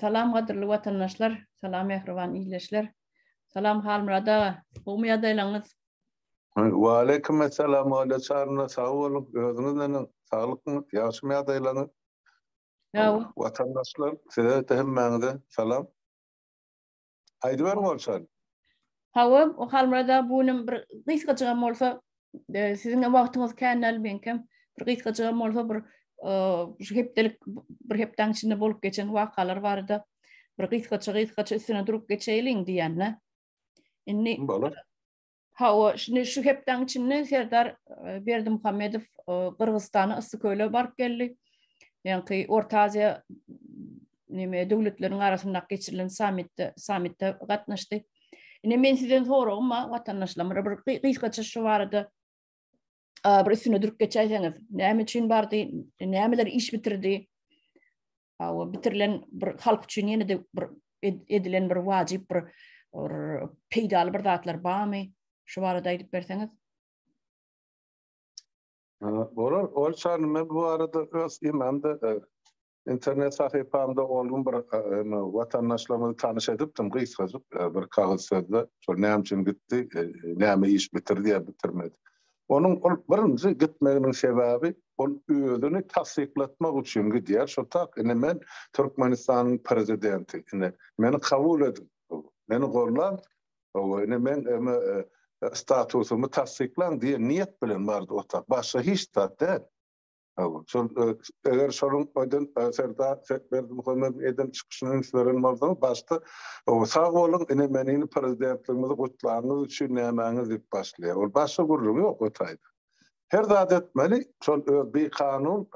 Salam gadyrly watandaşlar, salam mähriban ildeşler. Salam Halmyrat aga, gowmy ýagdaýlaryňyz? Wa aleýkum essalam Olýa Çarna, sag boluň. Özüňiz neneň? Saglykmy? Ýagşymy ýagdaýlaryňyz? Ýa. Watandaşlar, size-de hemmäňize salam. Aýdyber bolsan. Hawa, Halmyrat aga bu günem bir gysgajygam bolsa, e, siziň wagtyňyz kän däl, meňkem bir gysgajygam bolsa bir e, şu hepdelik bir hepdäň içinde bolup geçen wakalar barada bir gysgaça gysgaça üstüne durup geçeýliň diýende. Indi bolar. Hawa, şindi şu hepdäň içinde Serdar e, Berdimuhammedow e, Gyrgyzystana Yssyköle baryp geldi. Ýaňky Orta Aziýa neme döwletleriň arasynda geçirilen sammitde sammitde gatnaşdy. Ine men sizden soragym bar, watandaşlarymyza bir gysgaça şu barada bir üstüne durup geçäýseňiz. Näme üçin bardy? Nämeler iş bitirdi? Hawa, bitirilen bir halk üçin ýene-de bir edilen bir wajyp bir peýdaly bir zatlar barmy? Şu barada aýdyp berseňiz. Bolar, ol çany men bu arada öz imamda e, internet sahypamda onuň bir e, e, watandaşlarymyzy tanyş edipdim gysgajyk bir kagyz sözde. Şol näme üçin gitdi, näme iş bitirdi ýa bitirmedi. Onuň ol birinji gitmeginiň sebäbi ol özüni tassyklatmak üçin gidýär şo tak ine men Türkmenistanyň prezidenti ine meni kabul ediň meni gollan hawa ine men statusymy tassyklaň diýen niýet bilen bardy o tak başga hiç zat däl. Şol eger şonuň öýden Serdar Berdimuhamedow eden çykyşyny üns beren bolsaň, başda sag boluň, ine men indi prezidentligimizi gutlanyňyz üçin nämäňiz diýip başlaýar. Ol başga gürrüňi ýok o taýda. Her zat etmeli, şol öz bikanun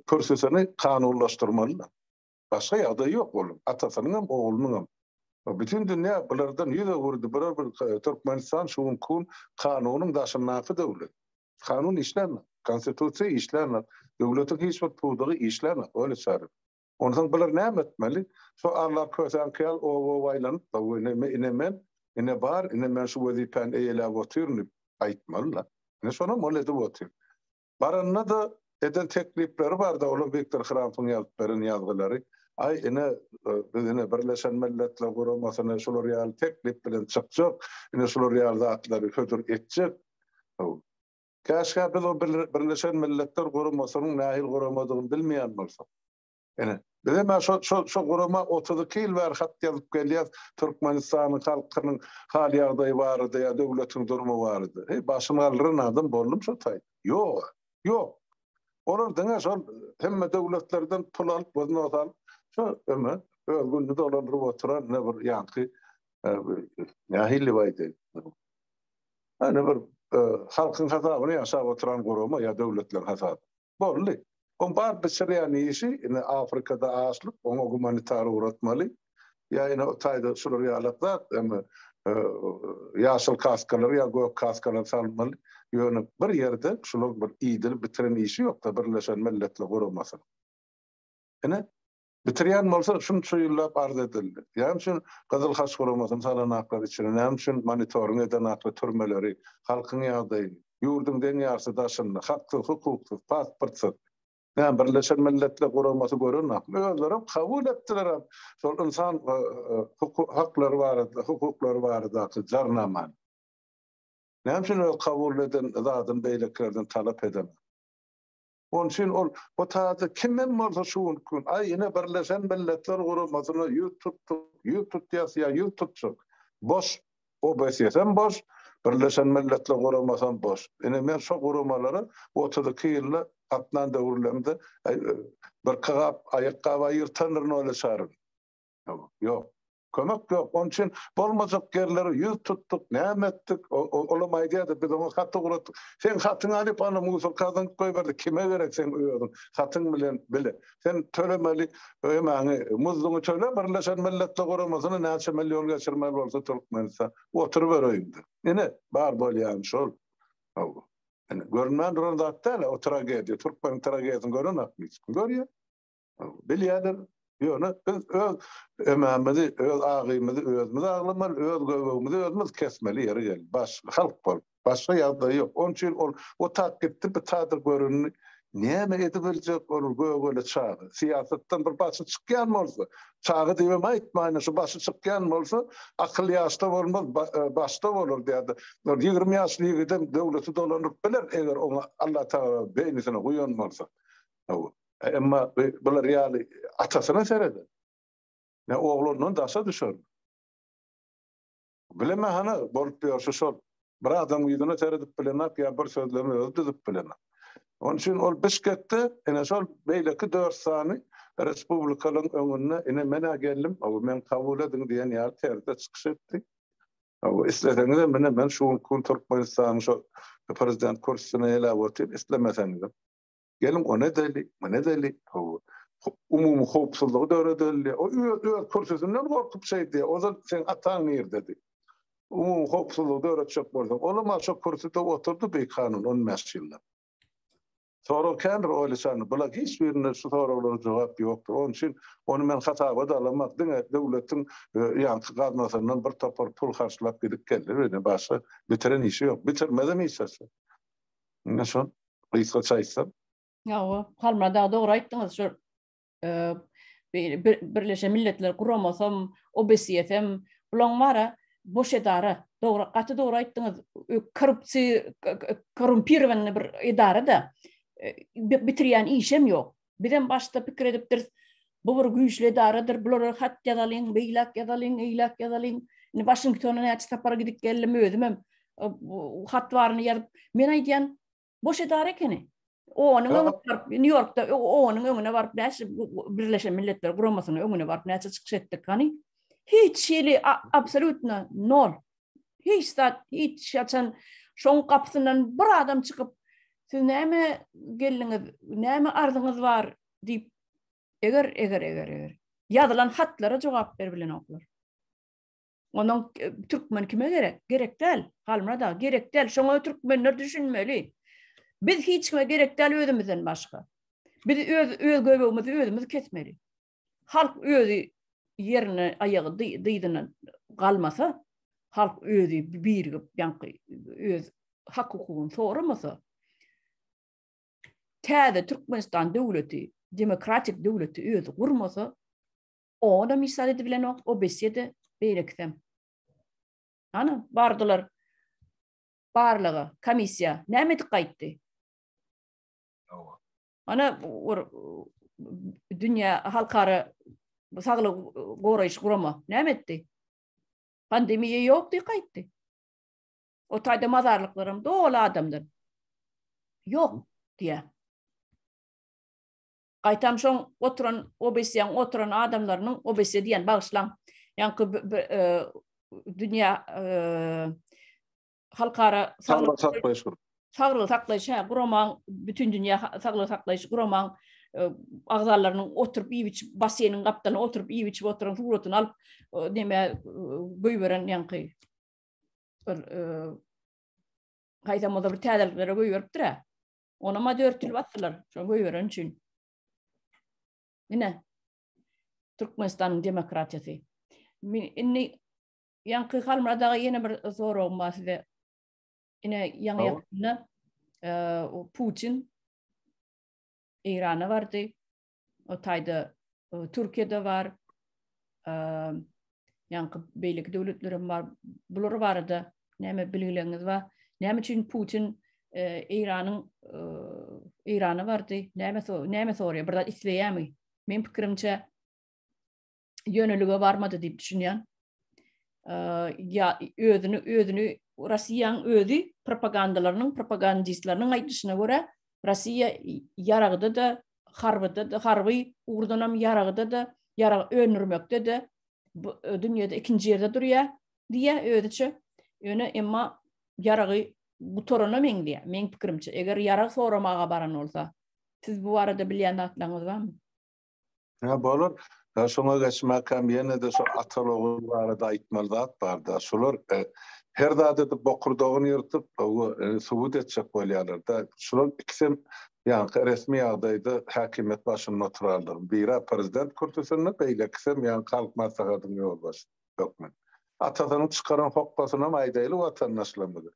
kürsüsini kanunlaşdyrmaly. Başga ýagdaýy ýok onuň, atasynyň hem, oglunyň hem. Bütin dünýä bulardan ýüz öwürdi, bular bir Türkmenistan şu günki gün kanunyň daşyndaky döwlet. Kanun işlärmi? Konstitusiýa işlärmi? Döwletiň hiç bir pudagy işlärmi? Öýle çary. Onsoň bular näme etmeli? Şo Alla kösen kyýal o-o-ow aýlanyp-da, we ine me, ine men, ine bar, ine men şu wezipäni eýeläp otyryn diýip aýtmaly-la. Ine şonam ol edip otyr. Baranda-da Eden teklipleri bardy, olar Wiktor Hrampyň ýazyp beren ýazgylary. Aý, ine, biz ine Birleşen Milletler Guramasyna şular ýaly teklip bilen çykjak, ine şular ýaly zatlary hödür etjek. Haw. Käşgä biz o Birleşen Milletler Guramasynyň nähili guramadygyny bilmeýän bolsak. Ine, biz hem şo, şo, şo gurama 32 ýyl bäri hat ýazyp gelýäs, Türkmenistanyň halkynyň hal-ýagdaýy barada ýa döwletiň durmy barada. Heý, başyny galdyran adam boldum şo taý? Ýog-a, ýok. Olar diňe şol hemme döwletlerden pul alyp, wznos alyp, şo öme, öz gününi dolandyryp oturan ne bir ýaňky, e, nähili baýdy? Ene bir e, halkyň hasabyna ýaşap oturan gurama ýa döwletleň hasabyna. Boldy. Oň bar bişirýän işi ine Afrikada açlyk, oňa gumanitar ugratmaly. Ýa ine o taýda şular ýalak zat, indi ýaşyl kaskalar ýa gök kaskalar salmaly. Ýöne bir ýerde şular bir iýdirip bitiren işi ýokda Birleşen Milletler Guramasynyň. Ine Bitirýän bolsa şunça ýyllap arz edildi. Näme üçin Gyzyl Haç guramasyny salan aklar içine, näme üçin monitoring eden akly türmeleri, halkyň ýagdaýy, ýurduň deň ýarysy daşynda, haksyz, hukuksyz, pasportsyz. Näme Birleşen Milletler guramasy gören akly, özlerem kabul etdilerem şol ynsan haklary barada, hukuklary baradaky jarnamany. Näme üçin öz kabul eden zadyny beýlekilerden talap edemok? Onuň üçin ol bu taýda kim hem bolsa şu günki gün, aý, ine, Birleşen Milletler Guramasyna ýüz tutduk, ýüz tutýas ýa ýüz tutjak. Boş. OBSS-em boş, Birleşen Milletler Guramasam boş. Ine, men şo guramalara otuz iki ýylda gatnan döwürlerimde birki gap aýakgap aýyrtandyr nole çaryn. Ýok. Kömek ýok. Onuň üçin bolmajak ýerlere ýüz tutduk, näme etdik. Olam aýdýardy, biz oňa hat ugratdyk. Seň hatyňy alyp, ana, musorka zyňyp goýberdik. Kime gerek seň özüň hatyň bilen bile? Sen tölemeli emaňy, muzduňy töle, Birleşen Milletler Guramasyna näçe million geçirmeli bolsa Türkmenistan. Oturyber öýüňde. Ine, bar bolýany şol. Hawa. Ine, görünmän duran zat däl-ä o tragediýa. Türkmeniň tragediýasyny görenokmy hiç kim? Görýär. Bilýärler, ýöne biz öz emämizi, öz agymyzy özümiz aglamaly, öz göbegimizi özümiz kesmeli ýeri geldi. Baş halk bol. Başga ýagdaý ýok. Onuň üçin ol otap gitdi, bu taýda göründi. Näme edip biljek ol gögele çaga? Syýasatdan bir başy çykýan bolsa, çaga diýip hem aýtmaýyn, şu başy çykýan bolsa, akyl ýaşda bolmaz, başda bolar diýýärdi. Ol ýigrimi ýaşly ýigidem döwleti dolanyp biler, eger oňa Allatagala beýnisini guýan bolsa. Hawa. Emma bular ýaly atasyna sereder. Ne oglandan daşa düşer. Bilemä hany bolup ýörşi şol. Bir adam ýüzüne seredip bilenok ýa bir sözlerini özi düzüp bilenok. Onuň üçin ol Bişkekde ine şol beýleki dört sany respublikalaryň öňünde ine men-ä geldim, hawa meni kabul ediň diýen ýaly terzde çykyş etdi. Hawa isleseňizem ine men şu günki gün Türkmenistanyň şol prezident kürsüsine eläp otyryn, islemeseňizem. Geliň o nädeli, bu nädeli, hawa. Umumy howpsuzlygy döredeli. O öz öz kürsüsinden gorkup şeýdi. Ozal seň ataň nirdedi? Umumy howpsuzlygy döretjek bolsaň, olam a şo kürsüde oturdy bikanun on bäş ýyllap. Sorag kän bir oýluçan. Bula hiç birinde şu soraglara jogap ýokdur. Onuň üçin ony men hasaba-da alamak. Diňe döwletiň ýaňky gaznasyndan bir topar pul harçlap gidip geldi. Ýöne başga bitiren işi ýok. Bitirmezem hiç zat. Ine şol. Gysgaça aýtsam. Hawa, Halmyrat aga dogry aýtdyňyz. Şu Birleşen Milletler Guramasam, OBSE-dem, bulaň bara boş edara. Dogry, gaty dogry aýtdyňyz. Korrupsiýa, korrumpirowanyny bir edara-da, bitirýän işem ýok. Bizem başda pikir edipdiris, bu bir güýçli edaradyr, bulara hat ýazalyň, beýläk ýazalyň, eýläk ýazalyň. Indi Waşingtona näçe sapar gidip geldim özümem. Hat baryny ýazyp, men aýdýan, boş edara ekeni. Onuň öňüne baryp, Nýu-Ýorkda onuň öňüne baryp, näçe Birleşen Milletler Guramasynyň öňüne baryp, näçe çykyş etdik, hany? Hiç hili absolýutno nol. hiç zat, hiç haçan şoň gapysyndan bir adam çykyp, siz näme geldiňiz, näme arzyňyz bar diýip, eger, eger, eger, eger, ýazylan hatlara jogap berip bilenoklar. Onuň e, türkmen kime gerek? Gerek däl. Halmyrat aga, gerek däl. Şoňa türkmenler düşünmeli. Biz hiç kime gerek däl özümizden başga. Biz öz öz göbegimizi özümiz kesmeli. Halk özi ýerine aýagy dyzyna galmasa, halk özi birigip, ýaňky öz hak-hukugyny soramasa, täze Türkmenistan döwleti, demokratik döwleti özi gurmasa, oňa-da misal edip bilenok, o besse-de, beýlekisem. Ana, bardylar barlaga, komissiýa, näme edip gaýtdy? Ana bir dünýä halkara saglygy goraýyş gurama näme etdi? Pandemiýa ýokdy, gaýtdy. O taýda mazarlyklaram doly adamdan. Ýok diýä. Gaýtam şoň oturan obesiýaň oturan adamlarynyň obesiýa diýen bagyşlaň. Ýaňky e, dünýä e, halkara saglygy saklaýyş saglygy saklaýyş hä guramaň bütün dünýä saglygy saklaýyş guramaň e, agzalarynyň oturyp iýip içip basseýniň gapdalyna oturyp iýip içip oturan suratyny alyp näme e, goýberen ýaňky bir e, haýsamada bir täzeliklere goýberipdir hä ona ma dörtülip atdylar şo goýberen üçin ine Türkmenistanyň demokratiýasy indi Ýaňky Halmyrat aga ýene bir soragym bar size. Ine ýaňy ýakynda o Putin Eýrana bardy. O taýda Türkiýede bar. Ýaňky beýleki döwletler hem bar. Bular barada näme bilgileriniz bar? Näme üçin Putin Eýranyň Eýrana bardy? Näme näme soraýar? Bir zat isleýärmi? Men pikirimçe ýönelige barmady diýip düşünýän. Ýa özüni özüni Russiýanyň özi propagandalarynyň propagandistleriniň aýdyşyna görä Russiýa ýaragda da harbyda da harby ugurdan hem ýaragda da ýarag öndürmekde de dünýäde ikinji ýerde durýar diýýär özüçe. Ýöne emma ýaragy gutarana meňzeýär. Meň pikirimçe, eger ýarag soramaga baran bolsa, siz bu barada bilýän zatlaryňyz barmy? Hä, bolar. Hä, şoňa geçmäkäm ýene-de şu atal-ogul barada aýtmaly zat bar-da. Şular her zada edip bokurdagyny ýyrtyp, subut etjek bolýarlar-da. Şular ikisem ýaňky resmi ýagdaýda häkimiýet başynda oturarlar. Biri-ä prezident kürsüsinde, beýlekisem ýaňky Halk Maslahatynyň ýolbaşçysy hökmünde. Atasynyň çykaran hokgasynam aýdaýly watandaşlarymyza.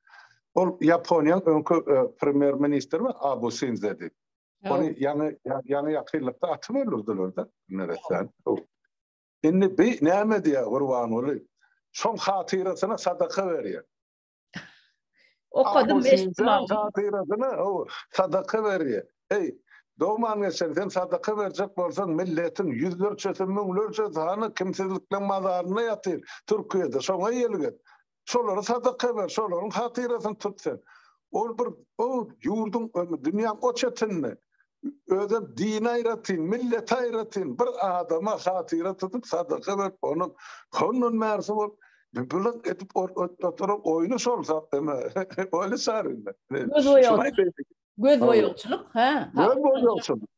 Ol Ýaponiýanyň öňki premýer-ministri Abu Sinzedi. Ony ýaňy ýaňy ýakynlykda atyp öldürdiler-de Meretden. Indi bi näme diýýär Gurbanguly? Şoň hatyrasyna sadaka berýär. Okadym eşitmän. Hatyrasyna sadaka berýär. Heý, dogman geçen sen sadaka berjek bolsaň milletiň ýüzlerçesi, müňlerçesi hany kimsizlikleň mazarynda ýatyr Türkiýede. Şoňa ýelget. Şolary sadaka ber, şolaryň hatyrasyny tut sen. Ol bir o ýurduň, dünýäň o çetinde özem dini aýratyn, milleti aýratyn bir adama hatyra tutup sadaka berip, ony hondan bärsi bolup, bilik edip oturan oýny şol sadaka. Oýny çarynda. Gözboýagçylyk. Hä. Gözboýagçylyk.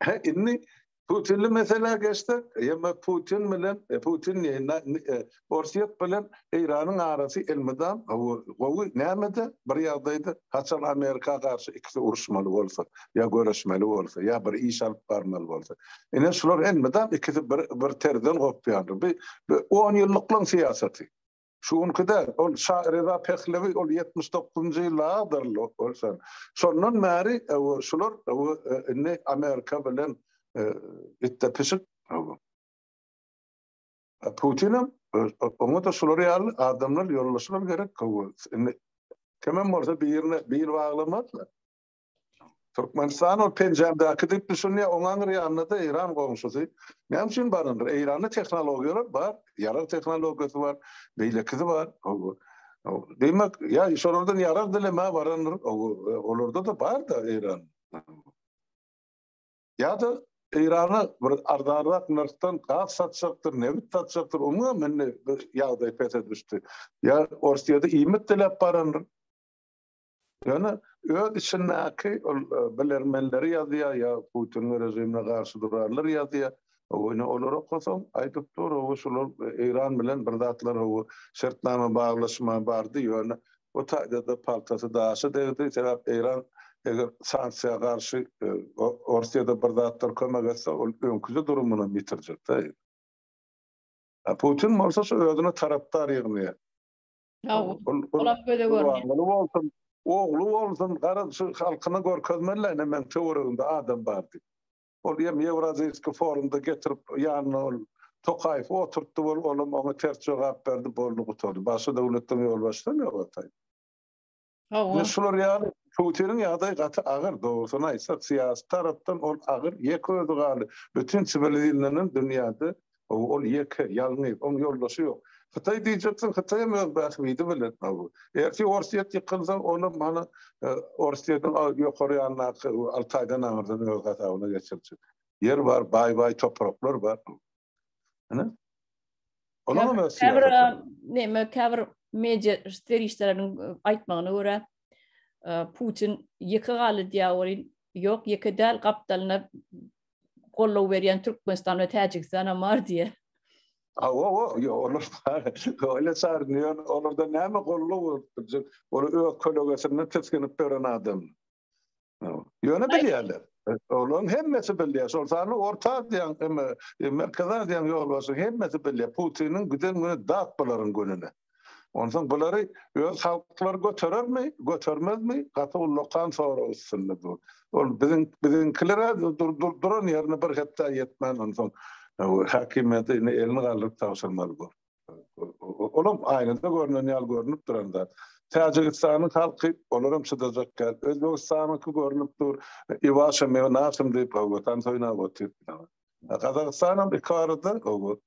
Hä, indi Putinli meselä geçsek, ýa-da Putin bilen, Putin diýeýin, na, e, Orsýet bilen Eýranyň arasy elmydam gowy, näme-de bir ýagdaýda, haçan Amerika garşy ikisi uruşmaly bolsa, ýa göreşmeli bolsa, ýa bir iş alyp barmaly bolsa. Ine, şular elmydam ikisi bir, bir terzden gopýandyr. Bi, bi on ýyllyklaň syýasaty. Şu günki däl, ol Şa Reza Pehlewi, ol ýetmiş dokuzynjy ýyllarydyr ol sen. Şondan bäri ewe şular ewe indi Amerika bilen itde pişik ewe. Putinem oňa-da şular ýaly adamlar ýolbaşçylar gerek ewe. Indi kimem bolsa birine bil baglamazlar. Türkmenistan ol penjämdäki diýip düşünýär, oň aňyr ýanynda-da Eýran goňşusy. Näme üçin baryndyr? Eýranda tehnologiýalar bar, ýarag tehnologiýasy bar, beýlekisi bar. Diýmek, ýa şolardan ýarag dilemä barandyr, olarda-da bar-da Eýran. Ýa-da Eýrana bir arzanrak nyrhdan gaz satjakdyr, nebit satjakdyr, oňam indi ýagdaý pese düşdi. Ýa Orsýede iýmit diläp barandyr. Ýöne öz içindäki ol bilermenleri ýazýar ýa Putiniň režimine garşy durarlar ýazýar. Ony olar okasaň, aýdyp dur, hawa şular Eýran bilen bir zatlar hawa şertnama baglaşma bardy, ýöne bu taýda-da paltasy daşa degdi, sebäp Eýran eger sanksiýa garşy Orsýada bir zatlar kömek etse, ol öňküje durumynam ýitirjek-dä. Putin bolsa şu özüne tarapdar ýygnaýar. Sag bol. Olam göze görünýär. Gurbanguly bolsun, ogly bolsun, garaz şu halkyna görkezmeli-le ine meniň töweregimde adam bar diýip. Ol ýem Ýewraziýskiý forumda getirip ýanyna ol Tokaýewi oturtdy bol, olam oňa ters jogap berdi, boldy gutardy. Başga döwletden ýolbaşçysam ýok ataýyn. Hawa. Şular ýaly Putiniň ýagdaýy gaty agyr, dogrusyny aýtsak, syýasy tarapdan ol agyr, ýeke özi galdy. Bütin siwilizirlenen dünýäde ol ýeke, ýalňyz, oň ýoldaşy ýok. Hytaý diýjeksiň, Hytaýam öz bähbidi bilen. Ertir Orsýet ýykylsa, olam hany Orsýetiň ýokary ýanyndaky Altaýdan aňyrdan öz gazabyna geçirjek. Ýer bar, baý-baý topraklar bar. Ana. Olar hem siýasat. Näme käbir media serişdeleriniň e, aýtmagyna görä e, Putin ýeke galdy diýýär Ýok, ýeke däl gapdalyna gollow berýän Türkmenistan we Täjigistan hem bar diýýär. Ha, o, o, yo, olar öyle sarnıyor, olarda näme gollu bolupdur, olar öz kölegesinde tiskinip tören adam. Ýöne bilýärler. Olaryň hemmesi bilýär. Şol sany Orta Aziýaň, Merkezi Aziýaň ýolbaşçylarynyň hemmesi bilýär. Putiniň giden güni dat bularyň gününe. Onsoň bulary öz halklary göterermi, götermezmi? Gaty ullakan sorag üstünde dur. Ol biziň biziňkiler duran ýerine bir hepdä ýetmän onsoň häkimiýeti elini galdyryp tabşyrmaly bor. Olam aýnada görnen ýaly görnüp duran zat. Täjigistanyň halky olaram çydajak däl. Özbegistanyňky görnüp dur. Iwaşa mewa nasym diýip watan soýunap otyr. Gazagystan hem iki arada owo.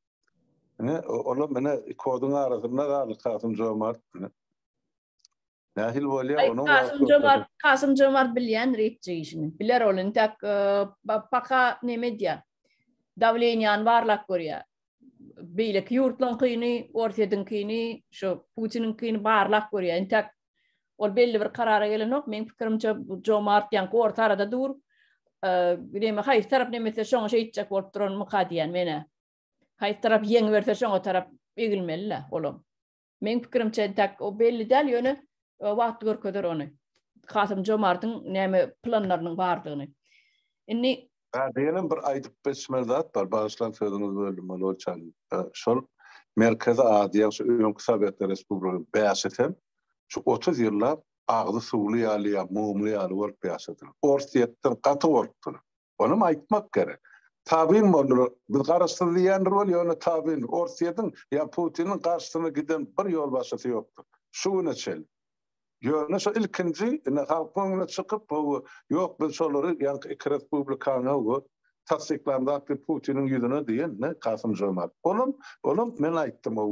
Ine olam ine iki oduň arasynda galdy Kasym Jomart. Nähili bolýar onuň? Kasym Jomart, Kasym Jomart bilýän reýtje işini. Biler ol intäk paka näme edýär? Dawleniýany barlap görýär. Beýleki ýurtlaryňkyny, Orsýetiňkini, şu Putiniňkini barlap görýär. Intäk ol belli bir karara gelenok. Meň pikirimçe Jomart ýa orta arada dur. Näme haýsy tarap näme etse şoňa şeýtjek bolup duranmyka diýýän menä. Haýsy tarap ýeňiberse şoňa tarap egilmeli-le olam. Meň pikirimçe entäk o belli däl, ýöne e, wagt görkezer ony. Kasym Jomartyň näme planlarynyň bardygyny. Indi Ha, diýenem bir aýdyp geçmeli zat bar. Bagyşlaň sözüňizi böldüm, Molow çaly. Şol Merkezi Aziýa, şu öňki Sowetler Respublikasynyň bäşisi hem şu 30 ýyllap agzy suwly ýaly ýa mumly ýaly bolup ýaşadylar. Orsýetden gaty gorkdular. Onam aýtmak gerek. Tabyn boldular. Biz garaşsyz diýýändir weli ýöne tabyndyr. Orsýetiň ýa Putiniň garşysyna giden bir ýolbaşçysy ýokdur. Şu güne çenli. Ýöne şu ilkinji ine halkyň öňüne çykyp bu ýok biz şolary ýaňky iki respublikany we tassyklandak diýip Putiniň ýüzüne diýen ne Kasym-Žomart. Olam olam men aýtdym o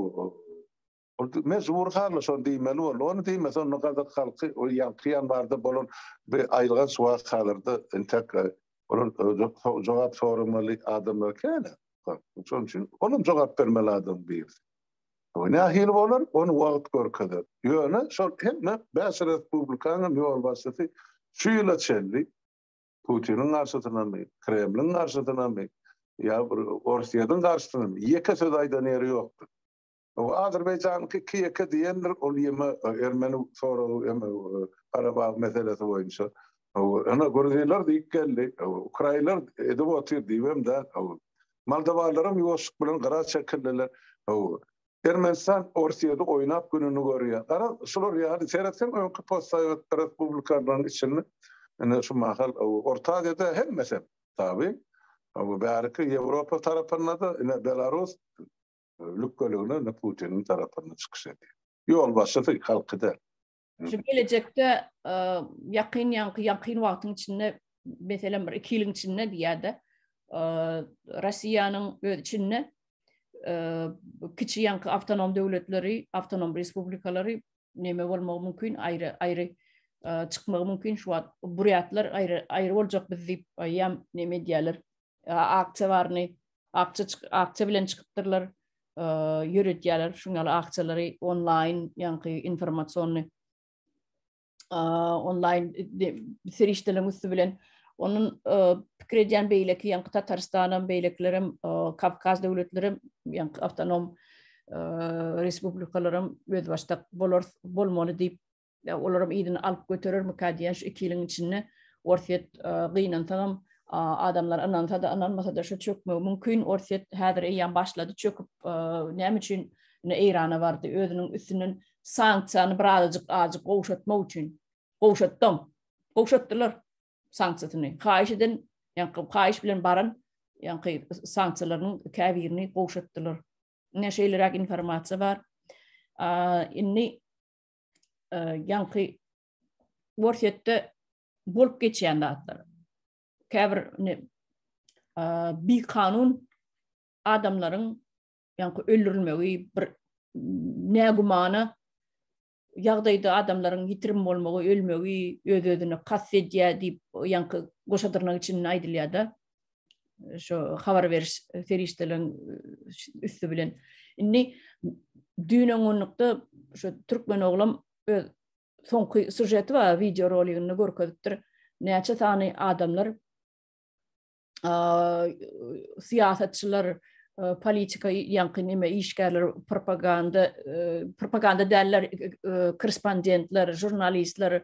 Ol mejbury halda şony diýmeli boldy. Ony diýmese, onda gazak halky ol ýaňky ýanwarda bolan bir aýylganç wakalarda entek olar jogap soramaly adamlar kän-ä. Şonuň üçin olam jogap bermeli adamyň birisi. Bu nähili bolar, ony wagt görkezer. Ýöne şol hemme bäş respublikanyň ýolbaşçysy şu ýyla çenli Putiniň garşysynamy, Kremliň garşysynamy ýa bir Orsýetiň garşysynamy ýeke söz aýdan ýeri ýokdur. Bu Azerbaýjanyňky Kiýeke diýendir, ol ýeme ermeni soragy eme Garabag meselesi boýunça. Ene Gruzinler diýip geldi, Ukrainler edip otyr diýibem däl. Moldowalaram ýuwaşlyk bilen gyra çekildiler. Ermenistan Orsýedi oýnap gününi görýär. Gara şular ýaly seretseň öňki postsowet respublikalaryň içinde ene şu mahal Orta Aziýada hemmesem tabi. Bäriki Ýewropa tarapynda-da ene Belarus Lükgölügine indi Putiniň tarapyndan çykyş edýär. Ýolbaşçysy halky däl. Şu gelejekde ýakyn ýaňky ýakyn wagtyň içinde meselem bir iki ýylyň içinde diýýärdi. Russiýanyň öz içinde kiçi ýaňky awtonom döwletleri, awtonom respublikalary neme bolmagy mümkin, aýry aýry çykmagy mümkin. Şu wagt burýatlar aýry aýry boljak biz diýip aýýam neme edýärler. Aksiýa baryny Akça akça bilen çykypdyrlar, ýöredýärler şuň ýaly akçalary onlaýn, ýaňky informasiony onlaýn serişdeleriň üsti bilen. Onuň pikir edýän beýleki ýaňky Tatarystan hem, beýlekiler hem, Kawkaz döwletleri hem, ýaňky awtonom respublikalar hem özbaşdak bolar, bolmaly diýip Ýa olaram yzyny alyp göterermikä diýýän şu iki ýylyň içinde Orsýet gynansagam adamlar ynansa-da ynanmasa-da şu çökmegi mümkin. Orsýet häzir eýýäm başlady çöküp näme üçin indi Eýrana bardy özüniň üstünden sanksiýany birazajyk ajyk gowşatmak üçin gowşatdam gowşatdylar sanksiýasyny haýyş eden ýa-da haýyş bilen baran ýa-da sanksiýalarynyň käbirini gowşatdylar. Ine şeýleräk informasiýa bar. Indi e, ýaňky Worsetde bolup geçýän zatlar. Käbir ne e, bi kanun adamlaryň ýaňky öldürilmegi bir nägümana ýagdaýda adamlaryň ýitirim bolmagy, ölmegi öz-özüne kast edýär diýip, ýaňky goşadyrnak içinde aýdylýar-da. şu habar beriş serişdeleriň üstü bilen. Indi düýn öňňünlikde şu türkmen oglam öz soňky sujeti bar, wideo roligini görkezipdir. Näçe sany adamlar syýasatçylar politika ýaňky näme işgärler propaganda propaganda däller korrespondentler žurnalistler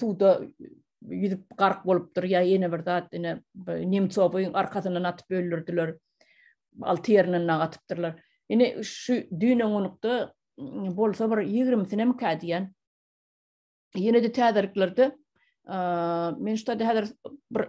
suwda ýüzüp gark bolupdyr ýa ýene bir zat ine nemcowyň arkasyndan atyp öldürdiler alty ýerinden nag atypdyrlar ine şu düýn öňňünlikde bolsa bir ýigrimisinem kä diýen ýene-de täzeliklerde men şu taýda häzir bir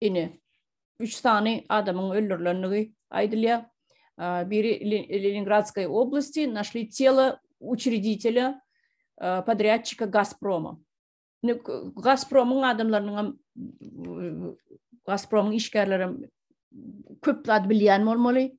Ine, üç sany adamyň öldürilendigi aýdylýar. Biri Leningradskay oblasti, našli telo uçreditele podrýadçika Gazproma. Indi Gazpromyň adamlarynyň hem Gazpromyň işgärleri hem köp zat bilýän bolmaly.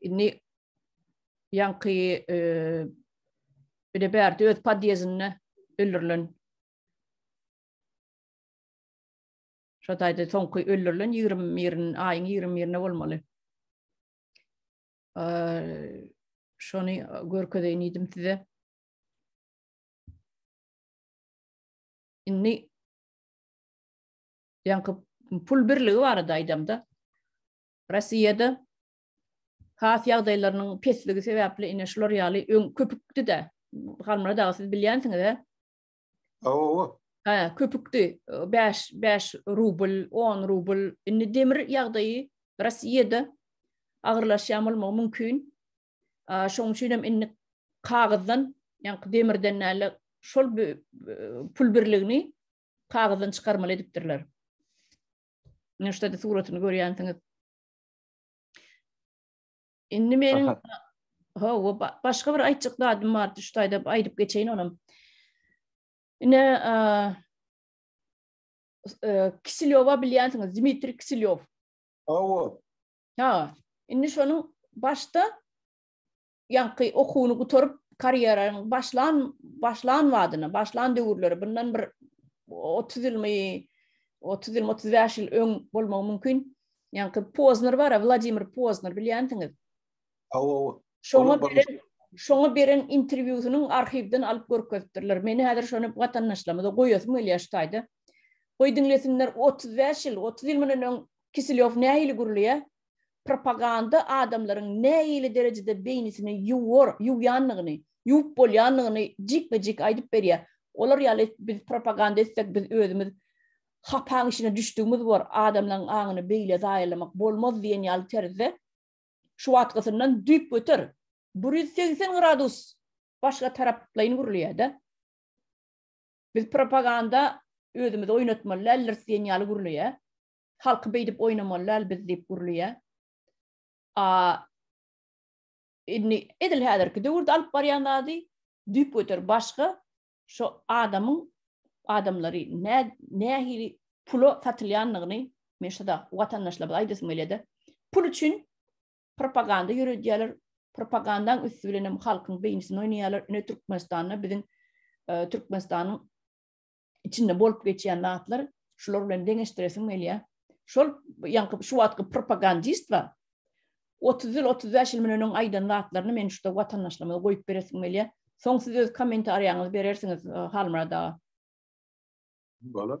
Indi ýaňky e, bir de bärde öz podýezinde öldürilen Şo taýda soňky öldürilen 21 aýyň 21-inde bolmaly. Şony görkezeýin idim size. Indi ýaňky pul birligi barada aýdamda, Rossiýada has ýagdaýlarynyň pesligi sebäpli ine şular ýaly öň köpükdi-de. Halmyrat aga siz bilýänsiňiz-ä? Hawa. Hä, köpükdi. 5 5 rubl, 10 rubl. Indi demir ýagdaýy Rossiýada agyrlaşýan bolmagy mümkin. Şonuň üçin hem indi kagyzdan, ýaňky demirden näle şol pul birligini kagyzdan çykarmaly edipdirler. Ine şuda suratyny görýänsiňiz. Indi meniň ha we başga bir aýtjak zadym bar, şu taýda aýdyp geçeýin onam. Ine Kisilýowa bilýänsiňiz, Dmitri Kisilýow. Hawa. Ha, indi şonuň başda ýaňky okuwyny gutaryp, karýeraň başlan başlan wadyna, başlan döwürleri, bundan bir otuz ýylmy, otuz ýylmy, otuz bäş ýyl öň bolmagy mümkin. Ýaňky Pozner bar, Wladimir Pozner bilýänsiňiz. Hawa, şoňa beren, şoňa beren interwýusynyň arhiwden alyp görkezipdirler. Meni häzir şony watandaşlarymyza goýasym gelýär şu taýda. Goý diňlesinler, otuz bäş ýyl, otuz ýyl mundan öň Kiselýow nähili gürleýär? Propaganda adamlaryň nähili derejede beýnisini ýuwar, ýuwýanlygyny, ýuwup bolýanlygyny jikme-jik aýdyp berýär. Olar ýaly biz propaganda etsek, biz özümiz hapaň içine düşdügimiz bor, adamlaryň aňyny beýle zaýalamak bolmaz diýen ýaly terzde şu wagtgysyndan düýpgöter, bir ýüz segsen gradus başga taraplaýyn gürleýär-de. Biz propaganda özümizi oýnatmaly däldiris diýen ýaly gürleýär. Halky beýdip oýnamaly däl biz diýip gürleýä. A indi edil häzirki döwürde alyp barýan zady düýp göter başga şu adamyň adamlary nä nähili pula satylýandygyny men şada watandaşlarymyza aýdasym gelýär-de. Pul üçin propaganda ýöredýärler. Propagandaň üsti bilen hem halkyň beýnisini oýnaýarlar. Ine Türkmenistanda biziň e, Türkmenistanyň içinde bolup geçýän zatlar şular bilen deňeşdiresim gelýär. Şol ýaňky şu wagtky propagandist bar. 30 ýyl 35 ýyl menen öň aýdan zatlaryny men şuda watandaşlarymyza goýup beresim gelýär. Soň siz öz kommentariýaňyzy berersiňiz e, Halmyrad aga. Bolar.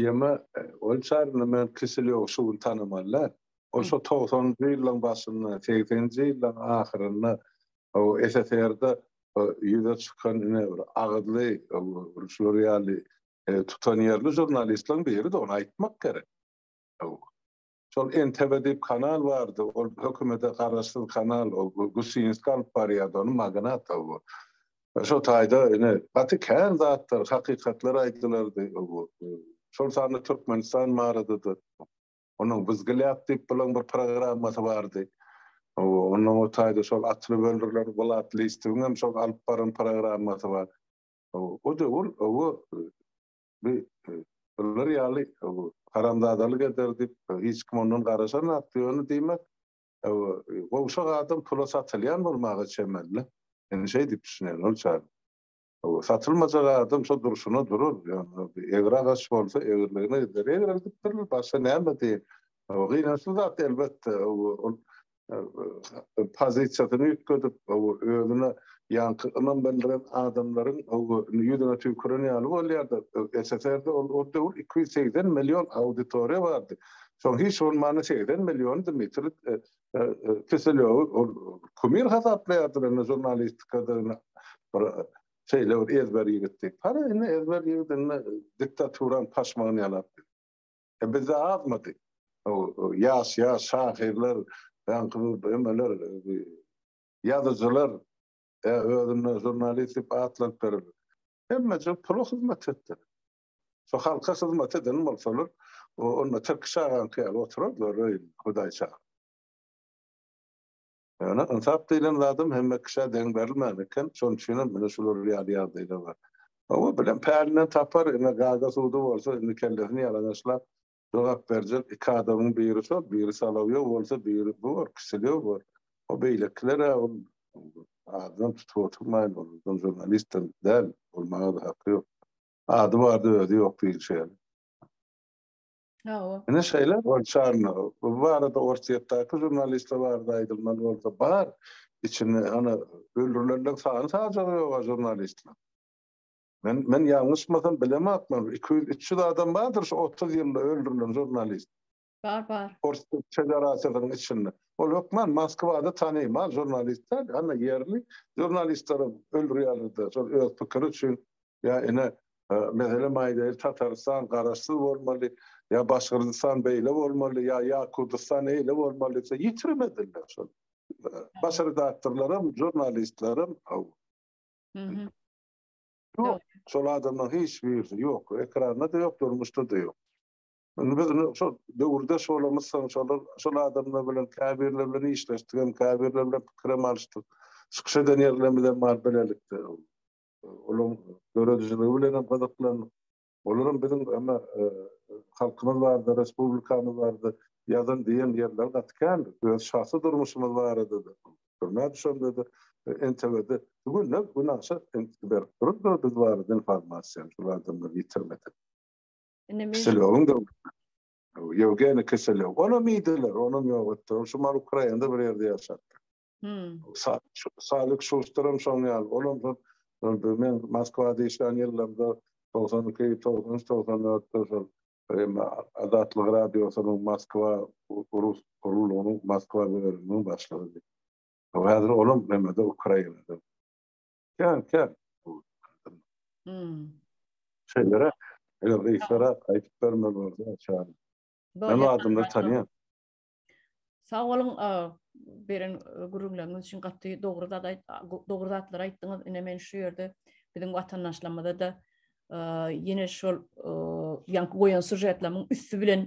Ýeme, ol çaryny men Kiselýow şu gün tanamaly-dä. Ol şo togsanynjy ýyllaryň başynda, segseninji ýyllaryň ahyrynda SSR-de ýüze çykan ine bir agyzly, şular ýaly tutanýerli žurnalistleriň biri-de, ony aýtmak gerek. Şol NTV diýip kanal bardy, ol hökümete garaşsyz kanal, ol Gusinski alyp barýardy ony, magnat o bu. Şo taýda ine gaty kän zatlar, hakykatlar aýdylardy o bu. Şol sanda Türkmenistan barada-da, onuň Wyzgilýak diýip bilen bir programmasy bardy. Ondan o taýda şol atly böldürler, Wlat Listowyň hem şol alyp baran programmasy bar. O döwür o Bi bular ýaly haramzadalyk eder diýip, hiç kim ondan garaşanok. Ýöne diýmek, gowşak adam pula satylýan bolmaga çemeli-le. Men şeý diýip düşünýän ol çag. Satylmajak adam şo durşuna durar. Ýöne egri agaç bolsa, egriligine gider. Egreldipdirler, başga näme diýeýin. Gynançly zat elbetde. Ol pozisiýasyny üýtgedip, özüne ýaňky ynam bildiren adamlaryň ýüzüne tüýküren ýaly bolýar-da. SSR-de ol döwür iki ýüz segsen million auditoriýa bardy. Şoň hiç bolmanda segsen milliony Dmitri Kiselýowy ol kumir hasaplaýardylar, indi žurnalistikada bir şeýle bir ezber ýigitdi. Hany, indi ezber ýigit indi diktaturanyň paşmagyny ýalapdy. E bizde azmydy? Ýaş ýaş şahyrlar, ýaňky emeler, ýazyjylar, e, özüne žurnalist diýip atlaryp berip, hemmeje pula hyzmat etdi. Şu halka hyzmat eden bolsalar, onda Tirkiş agaňky ýaly oturardylar öýünde, Hudaýça. Ýöne ynsap diýlen zadam hemme kişä deň berilmän eken, şonuň üçinem ine şular ýaly ýagdaýlar bar. Hawa, bilen pälinden tapar, ine gaga-sudy bolsa, indi kellesini ýalaňaçlap jogap berjek iki adamyň biri şol, biri Solowýow bolsa, biri bu bor, Kiselýow bor. O beýlekiler-ä ol adynam tutup oturmaýyn, ol žurnalist-dem däl, bolmaga-da haky ýok. Ady bardy, özi ýok diýilşi ýaly. Hawa. Ine şeýle bolşarna. Bu barada Orsýetdäki žurnalistler barada aýdylmaly bolsa bar. Içinde ana öldürilenler sany sajagy ýok žurnalistler. Men men ýalňyşmasam bilemokman 200-300 adam bardyr şu 30 ýylda öldürilen žurnalist. Bar bar. Orsýet federasiýasynyň içinde. Ol hökman Moskwada tanymal žurnalistler, ana ýerli žurnalistleri öldürýärler-de, şol öz pikiri üçin ýa ine meselem aýdaýyl Tatarystan garaşsyz bolmaly ýa Başgyrdystan beýle bolmaly ýa ýa Kurdystan eýle bolmaly diýse ýitirmediler şol. Baş redaktorlaram, žurnalistlerim aw. Mhm. Ýok, şol adamlar hiç birisi ýok, ekranda-da ýok, durmuşda-da ýok. Indi biz şol döwürde şolumyz soň şolar şol adamlar bilen käbirler bilen işleşdik hem käbirler bilen pikirem alyşdyk. Çykyş eden ýerlerimiz hem bar bilelikde. olaryň döredijiligi bilen hem gyzyklandyk. Olar hem biziň emma halkymyz barada, respublikamyz barada ýazan diýen ýerleri gaty kän. Öz şahsy durmuşymyz barada-da, türmä düşende-de, NTW-de günde günaşa entik berip dururlar biz barada informasiýany şol adamlar ýitirmedik. Indi men Kiselowyň döwründe. Ýewgeniý Kiselow. Onam iýdiler, onam ýok etdiler. Ol şu Ukrainada bir ýerde ýaşapdyr. Hmm. Salik Şuşturum şoň ýaly. Olam bir men Moskwada işlän ýyllarymda 92-93-94-de şol Azatlyk radiosynyň Moskwa rus guruluşynyň Moskwa bölüminiň başlygy. Häzir olam näme-de Ukrainada. Ýa, ýa. Hmm. Şeýlere, eger reýsara aýdyp bermeli bolsa, çagyr. Men adamlary tanýan. Sag boluň, beren gürrüňleriňiz üçin gaty dogry zat dogry zatlar aýtdyňyz. Ine men şu ýerde biziň watandaşlarymyza da ýene şol ýaňky goýan sujetleriň üsti bilen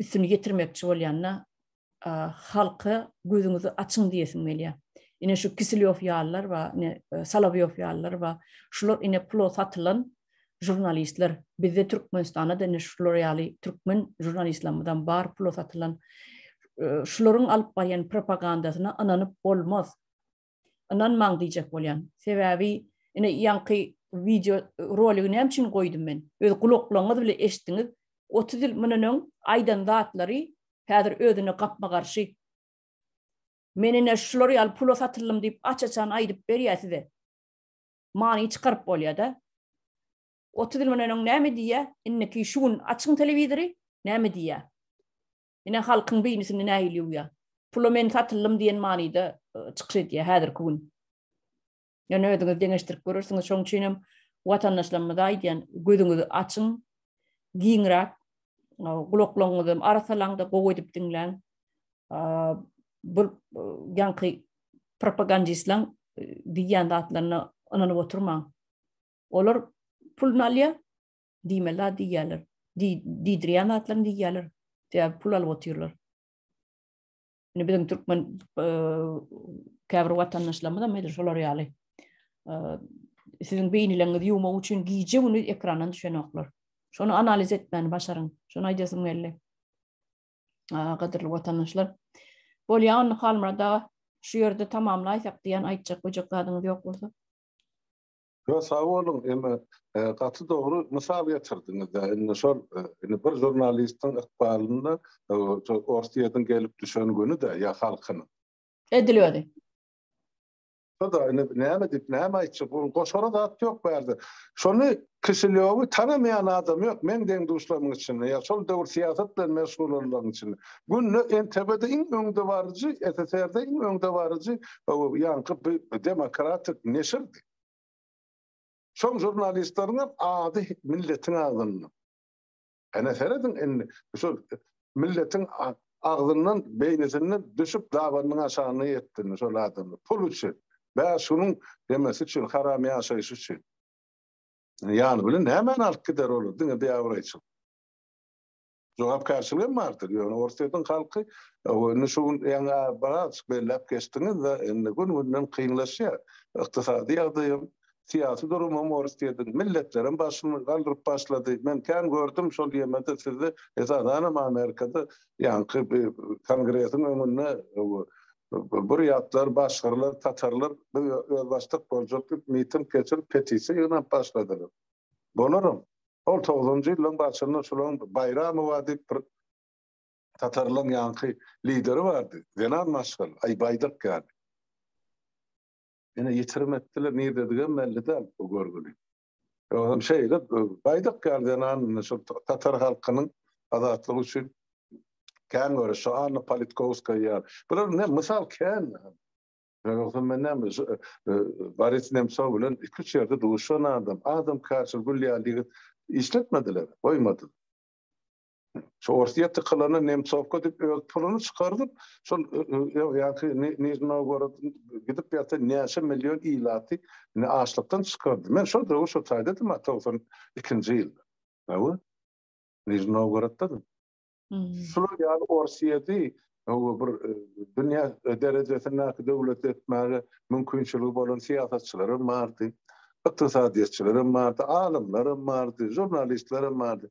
üstüni ýetirmekçi bolýanda halka gözüňizi açyň diýesim gelýär. Ine şu Kisilýow ýalylar we ine Salabýow ýalylar we şular ine pula satylan Žurnalistler, bizde Türkmenistanda da ine şular ýaly türkmen žurnalistlamyzam bar pula satylan. Şularyň alyp barýan propagandasyna ynanyp bolmaz. Ynanmaň diýjek bolýan. Sebäbi ine ýaňky wideo roligi näme üçin goýdum men? Öz gulaklaryňyz bile eşitdiňiz. Otuz ýyl mundan öň aýdan zatlary häzir özüne gapma garşy. Men ine şular ýaly pula satyldym diýip aç-açan aýdyp berýär size. many çykaryp bolýada. 30 ýyl mundan öň näme diýýä, indiki şu gün açyň telewizory, näme diýýä? Ine halkyň beýnisini nähili ýuwýa? Pula men satyldym diýen manyda e, çykyş edýä häzirki gün. Ýöne özüňiz deňeşdirip görersiňiz, şoň üçin hem watandaşlarymyza aýdýan, gözüňizi açyň, giňräk gulaklaryňyzy arasalaňda gowy edip diňläň. bir ýaňky propagandistlaň diýýän zatlaryna ynanyp oturmaň. Olar pul nalýa diýmeli zat diýýärler. Diýdirýän zatlaryny diýýärler. Sebäbi pul alyp otyrlar. Indi biziň türkmen käbir watandaşlarymyz hem edil şolar ýaly. Siziň beýnileňizi ýumak üçin gije güni ekrandan düşenoklar. Şony analiz etmäni başaryň. Şony aýdasym geldi. gadyrly watandaşlar. Bolýa onda Halmyrat aga, şu ýerde tamamlaýsak diýen aýtjak böjek zadyňyz ýok bolsa. Yo, sag bolun, eme, e, gaty dogry mysal getirdiňiz. Indi şol, e, indi bir žurnalistiň ykbalynda e, Orsiýadan gelip düşen güni de ya halkynyň. Edil özi. Şo-da indi näme diýip, näme aýtjak, bu goşara zat ýok bu ýerde. Şony Kişilýowy tanamaýan adam ýok meň deň-duşlarymyň içinde ýa şol döwür syýasat bilen meşgul bolanlaryň içinde. Günde NTB-de iň öňdebaryjy, SSR-de iň öňdebaryjy ýaňky bi demokratik neşirdi. Şoň žurnalistleriňem ady milletiň agzynda. Ene serediň indi şu milletiň agzyndan beýnisinden düşüp dabanyň aşagyna ýetdini şol adamlar pul üçin bäş günüň ýemesi üçin haram ýaşaýşy üçin ýany bilen nämäni alyp gider olar diňe biabraýçylyk jogapkärçiligem bardyr ýöne orsýetiň halky indi şu gün ýaňy biraz belläp geçdiňiz-de indi gün günden kynlaşýar ykdysady ýagdaýam Syýasy durumam orus diýedin. Milletlerem başyny galdyryp başlady. Men kän gördüm şol ýemede sizi esasanam Amerikada ýaňky kongresiň öňünde burýatlar, başgyrlar, tatarlar biz özbaşdak boljak diýip miting geçirip petisiýa ýygnap başladylar. Bolaram. Ol togsanjy ýyllaryň başynda şulaň Baýramowa diýip bir tatarlaryň ýaňky lideri bardy. Zenan maşgala, aý baýdak ýaly. Ine, ýitirim etdiler, nirdedigem belli däl bu görgüli. Özem şeýle baýdak ýaly zenan indi şol tatar halkynyň azatlygy üçin kän göreşdi. Anna Politkowskaýa ýaly. Bular ne mysal kän. Ýogsa men näme Boris Nemsow bilen iki-üç ýerde duşan adam. Adamkärçil, gül ýaly ýigit işletmediler, goýmadylar. Şu Orsiýa tykylany Nemtsowka diýip öz puluny çykardyp, şol ýa-ki Nižny Nowgorod gidip ýa-da näçe million ilaty indi açlykdan çykardy. Men şol döwür şo taýdadym a togsan ikinji ýyl. Hawa. Nižny Nowgoroddadyň. Şular ýaly Orsiýady hawa bir dünýä derejesindäki döwlet etmäge mümkinçiligi bolan syýasatçylar hem bardy. Ykdysadyýetçiler hem bardy, alymlar hem bardy, žurnalistler hem bardy.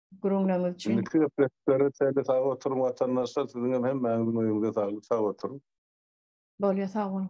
gürrüňleriňiz üçin. Indiki söhbetlere çenli sag oturyň watandaşlar, siziňem hemmäňiziň öýüňize saglyk, sag oturyň. Bolýar, sag boluň.